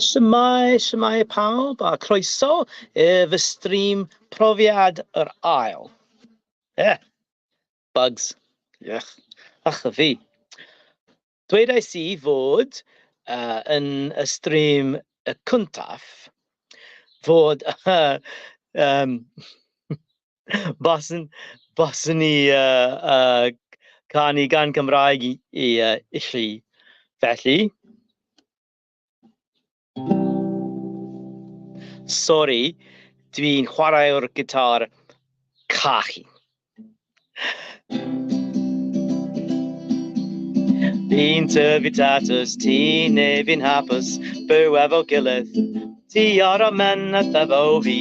Shwmae, shwmae pawb a croeso i fy stream profiad yr ail. Eh, bugs. Ych, ach y fi. Dweudais i fod uh, yn y stream y cyntaf fod uh, um, Baswn, baswn i uh, uh, canu gan Cymraeg i, i, uh, i chi. Felly... Sori, dwi'n chwarae'r gitar cachu. Fi'n tyfu tatws, ti neu fi'n hapus, byw efo gilydd, ti ar y men a thefo fi.